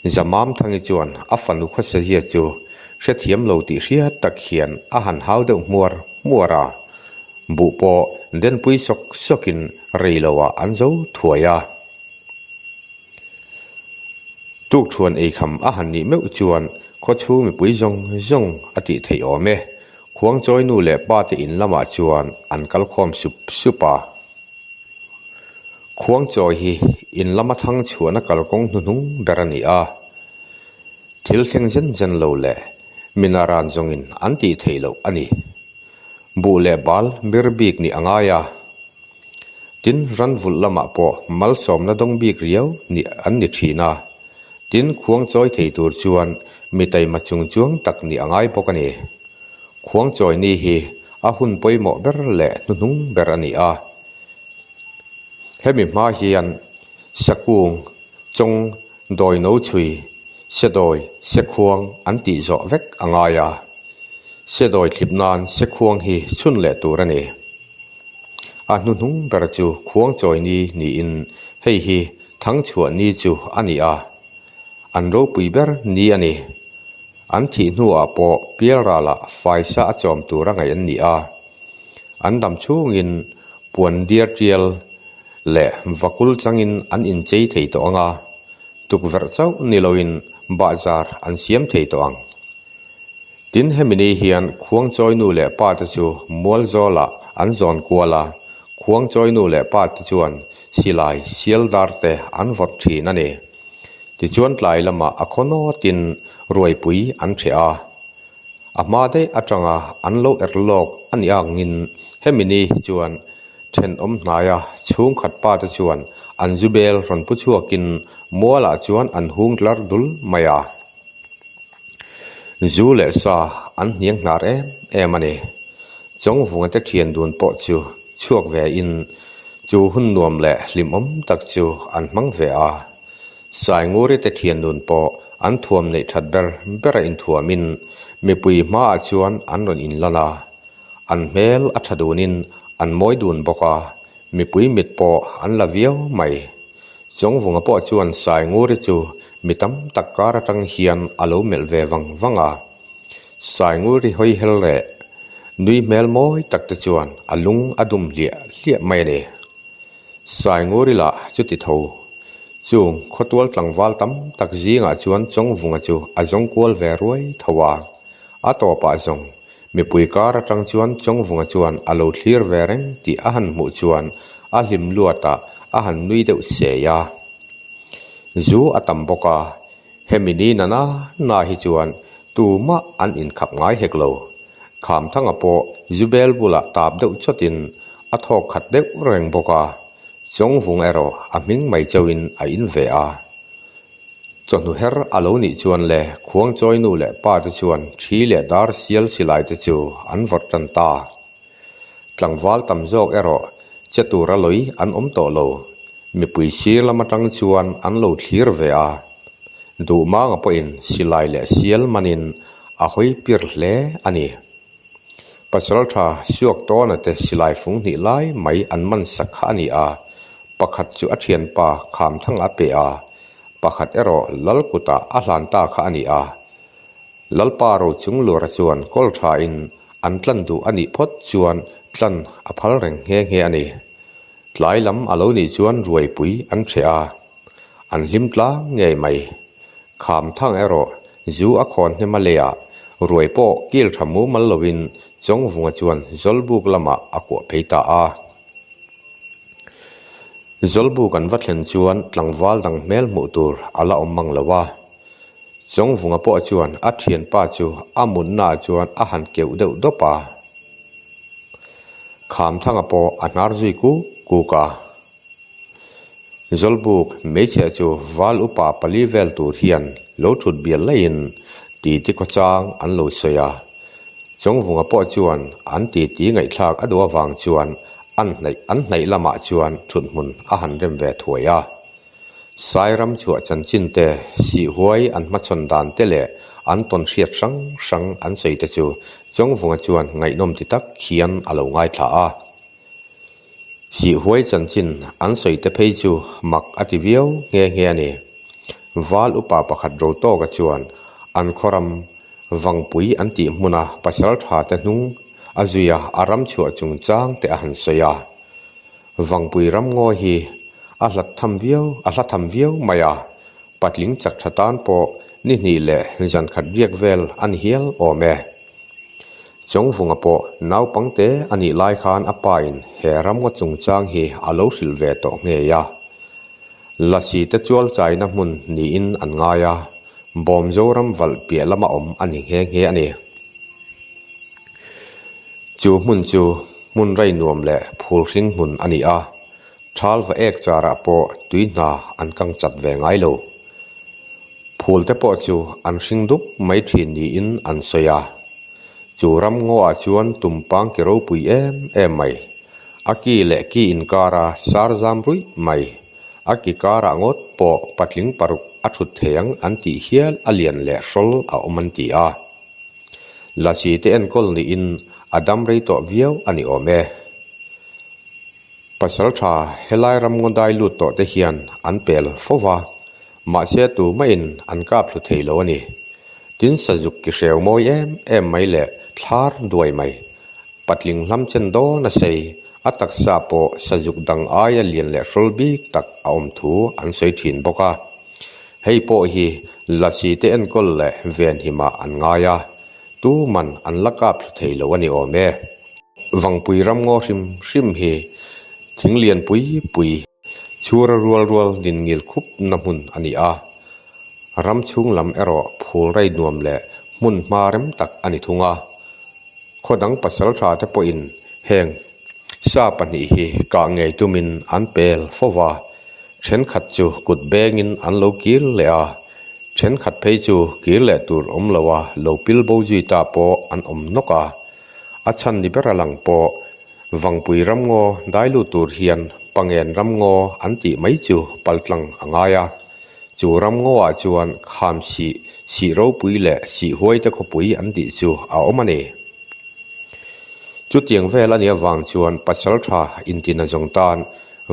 Zamamthangi chuan a fanu khawsazia chu hrethiam lo tih hriat tak hian a han hau deuh hmuar hmuar a, buh pawh denpui sawk sawkin reiloah an zo thuai a. Tukṭhuan eikham a han nih meuh chuan khawchhung mipui zawng zawng a tih theih awm e. Khuangchawinu leh pate in lamah chuan an kal khawm sup sup a. Khuangchawi hi in lama thang chhuahna kalkawng hnuhnung ber a ni a. Thil thleng zen zen lo leh mina ran zawngin an tih theih loh a ni. Buh leh bal bir bik nih a ngai a. Tin, ran vulh lamah pawh malsawmna dawng bik riau nih an ni thin a. Tin, khuang chawi thei tur chuan mi taima chung chuang tak nih a ngai bawk a ni. Khuang chawi ni hi a hun pawimawh ber leh hnuhnung ber a ni a. Hemi hma hian sakung chawng. Dawi no chhui, Sedawi, Sekhuang an tih zawh vek a ngai a, Sedawi thlip nan Sekhuang hi chhun leh tur a ni. A hnuhnung ber chu Khuangchawini niin hei hi Thangchhuahni chu a ni a, an ropui ber ni a ni. An thih hnuah pawh Pialrala Faisa a chawm tur a ngaih an ni a. An dam chhungin puan diar tial leh vakul changin an inchei thei tawh ang a, tukverh chauh ni loin bahzar an siam thei tawh ang. Tin, hemi ni hian khuang chawinu leh pa te chu mual zawlah an zawn kual a, khuang chawinu leh pa te chuan silai sialdar te an vawt thin a ni. Tichuan tlai lamah a khaw nawtin ruaipui an ṭheh a. a hma daih atanga an lo er lawk a nih angin hemi ni hi chuan thenawm hnaia chhungkhat pa te chuan an zu bel rawn pu chhuakin mualah chuan an hung tlar dul mai a zu leh sa an hniang hnar em em a ni chawngvunga te thian dun pawh chu chhuak ve in chu hun nuam leh hlimawm tak chu an hmang ve a. Sainguri te thiannun pawh an thuam neih that ber bera inthuamin mipui hmaah chuan an rawn in lan a, an hmel a tha dunin an mawi dun bawk a, mipui mit pawh an la viau mai. Chawngvunga pawh chuan Sainguri chu mi tam tak kar atang hian a lo melh ve vang vang a. Sainguri hawi hel reh, nui hmel mawi tak te chuan a lung a dum hliah hliah mai a ni. Saingoorila chuti tho chu khawtual tlangval tam tak zingah chuan chawngvunga chu a zawng kual ve ruai tho a. A tawpah zawng mipui kar atang chuan chawngvunga chuan a lo thlir ve reng tih a han hmuh chuan a hlim luatah a han nui deuh sei a. Zu a tam bawk a, Hemi ni nana na hi chuan tumah an inkhap ngai hek lo. Khamthanga pawh Zubel bulah tap deuh chawtin a thawk khat deuh reng bawk a, Chawngvung erawh a hming mai chauhin a in ve a. Chawhnu her a lo nih chuan le Khuangchawinu leh pate chuan thi leh dar sial silai te chu an vawrh tan ta. Tlangval tam zawk erawh che tura lawi an awm tawh lo. Mipui sir lam atang chuan an lo thlir ve a, duh manga pawhin silai leh sial manin a hawipir hle a ni. Pasalṭha suak tawnate silai fung hnih lai mai an man sak kha a ni a, pakhat chu a ṭhianpa khamthanga a pe a, pakhat erawh Lalkutah a hlan ta kha a ni a. Lalpa rochung lura chuan kawlṭhain an tlan duh a nih phawt chuan tlan a phal reng nghe nghe a ni. Tlai lam a lo nih chuan ruaipui an chhe a, an hlim tlang ngei mai. Kham thang erawh zu a khawn hnem a leh a, ruai pawh kil tha mumal loin Chawngvunga chuan Zawlbuk lamah a kuah phei ta a. Zawlbuk an va thlen chuan tlangval dang hmel hmuh tur a la awm mang lo a. Chawngvunga pawh chuan a thianpa chu a mutnaah chuan a han keuh deuh dawp a. Khamthanga pawh a hnar zui kuk kuk a. Zawlbuk hmeichhia chu val upa pali vel tur hian lo thut bial laiin titi khawchang an lo sawi a. Chawngvunga pawh chuan an titi ngaihthlak a duh avang chuan an hnaih an hnaih lamah chuan thuthmun a han rem ve thuai a. Sairam chhuah chanchin te, sihhuai an hmachhawn dan te leh an tawn hriat hrang hrang an sawi te chu Chawngvunga chuan ngaihnawm ti tak hian a lo ngaithla a. Sihhuai chanchin an sawi te phei chu mak a ti viau nghe nghe a ni. Val upa pakhat ro tawka chuan an khawram Vangpui an tih hmuna pasalṭha te hnung a zuia a ram chhuah chungchang te a han sawi a. Vangpui ramngawi hi a hlat tham viau a hla tham viau mai a, patling chak tha tan pawh ni hnih leh zan khat riak vel a ni hial awm e. Chawngvunga pawh naupang te a nih lai khan a pa in he ramngaw chungchang hi a lo hrilh ve tawh nghei a. Lasi te chual chaina hmun niin an ngai a, bawm Zoram valh piah lama awm a ni nghe nghe a ni. chu hmun chu hmun rei nuam leh phul hring hmun a ni a thal va ek charah pawh tui hna an kang chat ve ngai lo phul te pawh chu an hring dup mai thin niin an sawi a chu ramngaw ah chuan tum pang ke ropui em em mai a ki leh ki inkar a sar zam ruih mai a ki karah ngawt pawh patling paruk a thut thei ang an tih hial a lian leh hrawl a awm an ti a. La si te enkawl niin a dam rei tawh viau a ni awm e. Pasalṭha helai ramngaw dai lut tawh te hian an pel fo va, mahse tu mahin an kap hlu thei lo a ni. Tin sazuk ki hreu mawi em em mai leh thlar duai mai, patling hlam chen dawn a sei, a taksa pawh sazuk dang aia lian leh hrawl bik tak a awm thu an sawi ṭhin bawk a. Hei pawh hi Laci te enkawl leh Venhimah an ngai a, tuman an la kap thla thei lo a ni awm e. Vangpui ram ngaw hrim hrim hi thing lian pui pui, chhura rual rual din ngil khup na hmun a ni a, ram chhung lam erawh phul rei nuam leh hmun hma rem tak a ni thung a. Khaw dang pasal tha te pawhin heng sa pahnih hi kah ngei tumin an pel fo va, Thenkhat chu kut bengin an lo kir leh a, thenkhat phei chu kir leh tur awm lo a, lo pil bo zui ta pawh an awm nawk a. A chhan ni bera lang pawh Vangpui ramngaw dai lut tur hian Pangen ramngaw an tih mai chu paltlang a ngai a. Chu ramngawah chuan kham sih, sih ropui leh sih huaite khawpui an tih chu a awm a ni. Chutiang vel a nih avang chuan Pasalṭha intina zawng tan,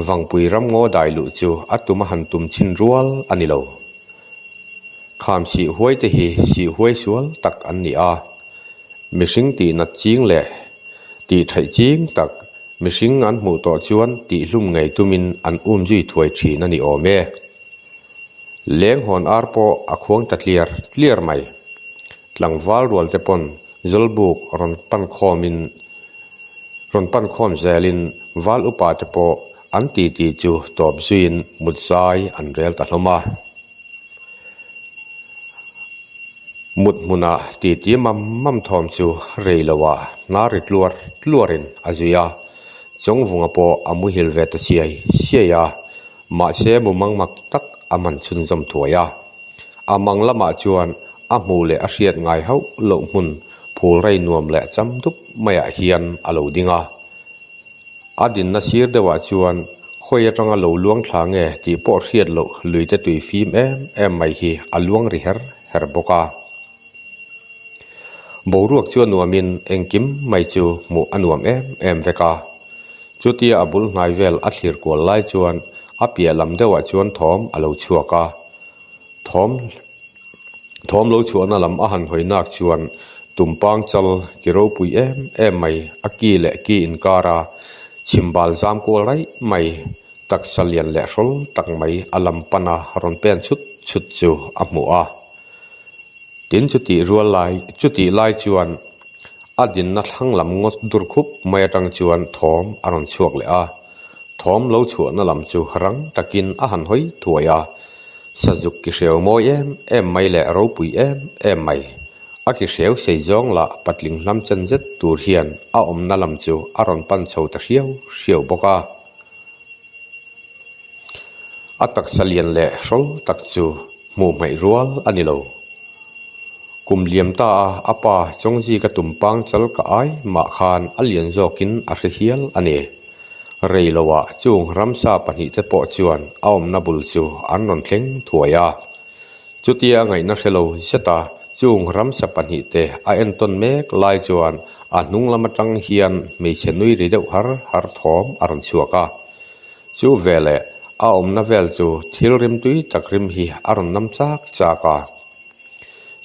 Vangpui ram ngaw dai luh chu a tum a han tum chin rual a ni lo. Kham sih huai te hi sih huai sual tak an ni a, mihring tih nat ching leh tih theih ching tak mihring an hmuh tawh chuan tih hlum ngei tumin an um zui thuai thin a ni awm e. Lenghawn ar pawh a khuang ta tliar tliar mai. Tlangval rualte pawn Zawlbuk rawn pan khawmin, rawn pan khawm zelin val upa te pawh an titi chu tawp zuiin mutzai an rel ta hlawm a. Muthmuna titi mam mam thawm chu reiloa hna ri tluar tluarin a zui a, chawngvunga pawh a muhil ve ta siai siai a. Mahse mumang mak tak a man chhunzawm thuai a, a mang lamah chuan a hmuh leh a hriat ngai hauh loh hmun phul rei nuam leh cham dup maiah hian a lo ding a. A dinna sir deuhah chuan khawi atanga lo luang thla nge tih pawh hriat loh luite tui fim em em mai hi a luang ri her her bawk a. Boruak chu a nuamin engkim mai chu hmuh a nuam em em vek a. Chutia a bul hnai vel a thlir kual lai chuan a piah lam deuhah chuan thawm a lo chhuak a. Thawm thawm lo chhuahna lam a han hawi nak chuan tum pang chal ki ropui em em mai a ki leh ki inkar a, chhim bal zam kual raih mai, taksa lian leh hrawl tak mai a lam pan a rawn pen chut chut chu a hmu a. Tin chutih rual lai chutih lai chuan a dinna thlang lam ngaw dur khup mai atang chuan thawm a rawn chhuak leh a. Thawm lo chhuahna lam chu rang takin a han hawi thuai a, sazuk ki hreu mawi em em mai leh ropui em em mai a ki hreu sei zawng lah patling hlam chan zet tur hian a awmna lam chu a rawn pan chho ta hriau hriau bawk a. a taksa lian leh hrawl tak chu hmuh hmaih rual a ni lo kum liam ta a a pa chawng zik a tum pang chal ka ai mah khan a lian zawk in a hre hial a ni rei lo ah chung ramsa pahnih te pawh chuan a awmna bul chu an rawn thleng thuai a. Chutia ngaihna hre lo zeta chung ramsa pahnih te a entawn mek lai chuan a hnung lam atang hian hmeichhe nui ri deuh har har thawm a rawn chhuak a. Chu ve leh a awmna vel chu thil rim tui tak rim hi a rawn nam chak chak a.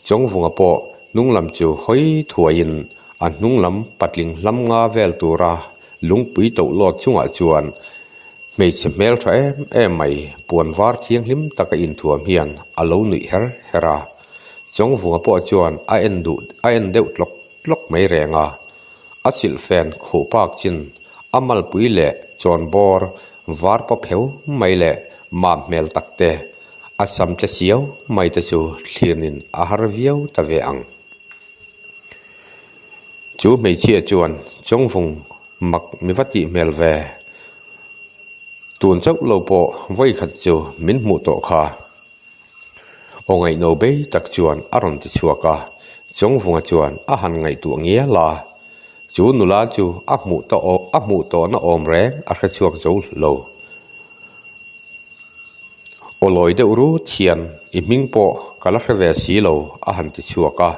Chawngvunga pawh hnunglam chu hawi thuaiin a hnunglam patling hlam nga vel tura Lungpui toh luat chungah chuan hmeichhe hmeltha em em mai puan var thianghlim taka inthuam hian a lo nuih her her a. Chawngvunga pawh chuan a en duh a en deuh tlawk tlawk mai reng a. A chilh fen khuh bak chin a malpui leh chawn bawr var paw pheu mai leh map hmel tak te, a sam tle chiau mai te chu thlirnin a har viau ta ve ang. Chu hmeichhia chuan chawng vung mak mi va tih hmel ve, tun chauh lo pawh vawi khat chu min hmuh tawh kha. Aw ngaihno bei tak chuan a rawn ti chhuak a, chawng vunga chuan a han ngaihtuah ngial a, chu nula chu a hmuh ta awm a hmuh tawh na awm reng a hre chhuak zo lo. Aw lawi deuh rut hian i hming pawh ka la hre ve si lo a han ti chhuak a,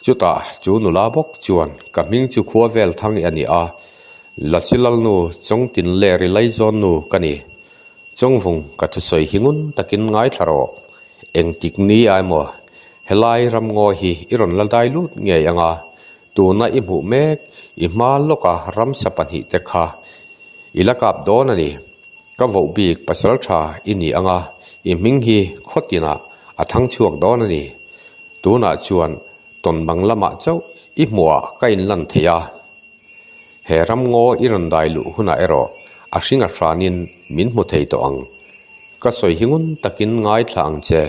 Chutah chu nula bawk chuan, Ka hming chu Khuavel Thangi a ni a, Lasilalnu Chawngtinleh ri Laizawnnu ka ni. Chawngvung ka thusawi hi ngun takin ngaithla rawh. Engtik ni ai maw? Helai ramngawi hi i rawn la dai lut ngei anga, tuna i hmuh mek i hma lawka ramsa pahnihte kha i la kap dawn a ni. Ka voh bik pasal tha i ni anga i hming hi khaw tinah a thang chhuak dawn a ni. Tunah chuan tawn bang lamah chauh i hmuha ka in lan thei a. He ram ngaw i rawn dai luh hunah erawh a hringa hranin min hmu thei tawh ang. Ka sawi hi ngun takin ngaithla ang che.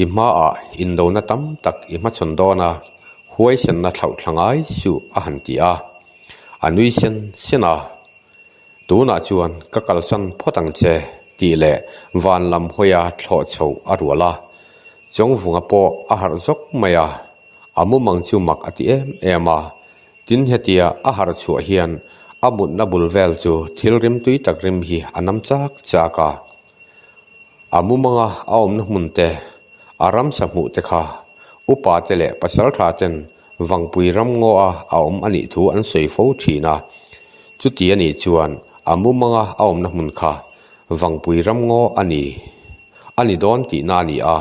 I hmaah indona tam tak i hmachhawn dawn a, huaisenna thlauh thla ngai suh a han ti a. A nui sen sen a. Tunah chuan ka kalsan phawt ang che tih leh van lam hawia thlawh chho a rual a, chawngvunga pawh a harh zawk mai a, a mumang chu mak a ti em em a, tin hetia a harh chhuah hian a mutna bul vel chu thilrim tui tak rim hi a nam chak chak a, a mumanga a awmna hmunte, a ramsa hmuhte kha upa te leh pasaltha ten Vangpui ram ngaw a a awm a nih thu an sawi fo thin a, chuti a nih chuan a mumanga a awmna hmun kha Vangpui ram ngaw a ni a ni dawn tihna a ni a,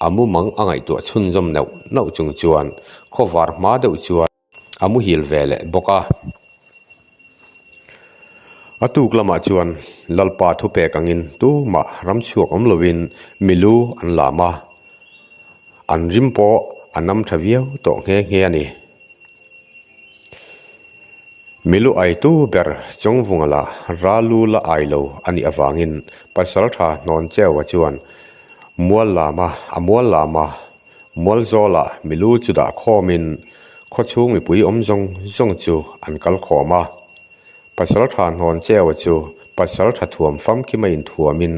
a mumang a ngaihtuah chhunzawm neuh neuh chung chuan khawvar hma deuh chuan a muhil ve leh bawk a. A tuk lamah chuan Lalpa thu pek angin tumah ram chhuak awm lovin milu an lam a, an rim pawh a nam tha viau tawh nghe nghe a ni. Milu aitu ber chawngvunga la ralu la ai lo a nih avangin Pasalṭha Hnawncheuva chuan mual lama a mual lama Mual zawlah mi lu chu dah khawmin khaw chhung mipui awm zawng zawng chu an kal khawm a. Pasal tha hnawn cheua chu pasal tha thuam famkim a inthuamin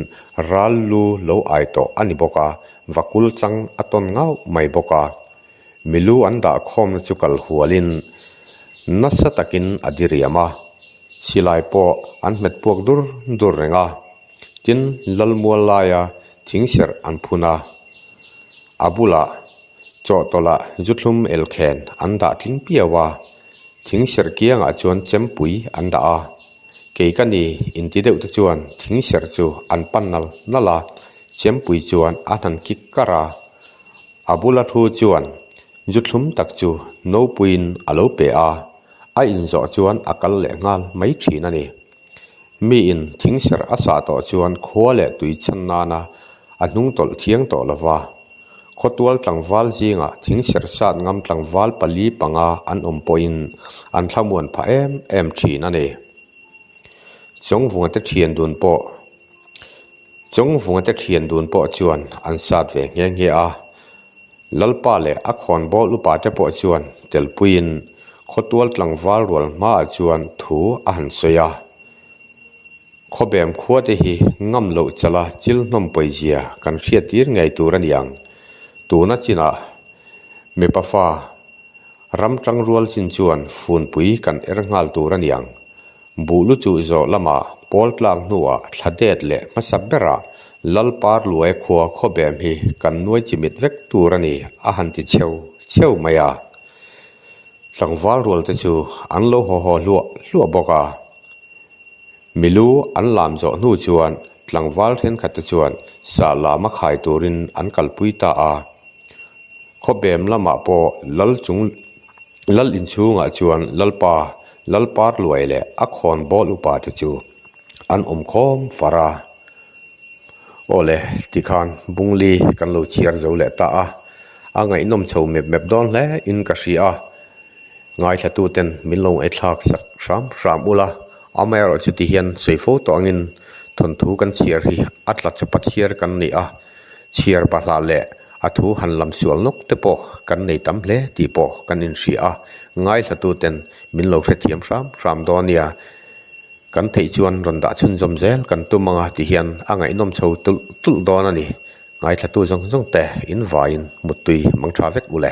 ral lu lo ai tawh a ni bawk a, va kul chang a tawn ngauh mai bawk a. Mi lu an dah khawmna chu kal hualin nasa takin a diriam a, silai pawh an hmet puak dur dur reng a. tin lalmual laia thing serh an phun a, a bulah chawhtawlah zuthlum elkhen an dah tling piau a, thing serh kiangah chuan chempui an dah a, kei ka ni in ti deuhte chuan thing serh chu an pan nal nal a, chempui chuan a hnan kik kar a, a bula thu chuan zuthlum tak chu nopuiin a lo pe a, a inzawh chuan a kal leh nghal mai thin a ni. miin thing ser a sah tawh chuan khua leh tui chhan nana a hnung tawlh thiang tawh lo va, khawtual tlangval zingah thing ser sat ngam tlangval pali panga an awm pawhin an thlamuan phah em em thin a ni. Chawngvunga te thian dun pawh. Chung vunga te thian dun pawh chuan an sat ve nghe nghe a, Lalpa leh a khawn bawh upa te pawh chuan telpuiin khawtual tlangval rual hmaah chuan thu a han sawi a, Khawbem khua te hi ngam loh chala chil hnawm pawizia kan hriat tir ngei tur a ni ang, tuna chinah mipa fa ram tang rual chin chuan funpui kan er nghal tur a ni ang, Buhlu chu zawh lama pawl tlak hnuah thla det leh hmasa berah Lalpar luai khua khawbem hi kan nuai chimit vek tur a ni a han ti cheu cheu mai a. Tlangval rualte chu an lo haw haw hluah hluah bawk a. Mi lu an lam zawh hnu chuan tlangval thenkhatte chuan sah lam a khai turin an kalpui ta a. Khawbem lamah pawh Lal chung Lal inchhungah chuan Lalpa Lalparluai leh a khawn bawl upa te chu an awm khawm far a, aw le tikhan Bungli kan lo chhiar zo leh ta a, a ngaihnawm chho mep mep dawn hle in ka hria a, ngaithla-tu ten min lo ngaihthlak sak hram hram ula, amaherawhchu tihian sawi fo tawh angin thawnthu kan chhiar hi a tla chapa chhiar kan ni a. Chhiar pa hlah leh a thu han lam sual nawk te pawh kan nei tam hle tih pawh kan inhria a, ngaihlatuten min lo hrethiam hram hram dawn nia, kan theih chuan rawn dah chhunzawm zel kan tum ang a tih hian a ngaihnawm chho tulh tulh dawn a ni, ngaihhlatu zawng zawngte in vaiin muttui mang tha vek u le.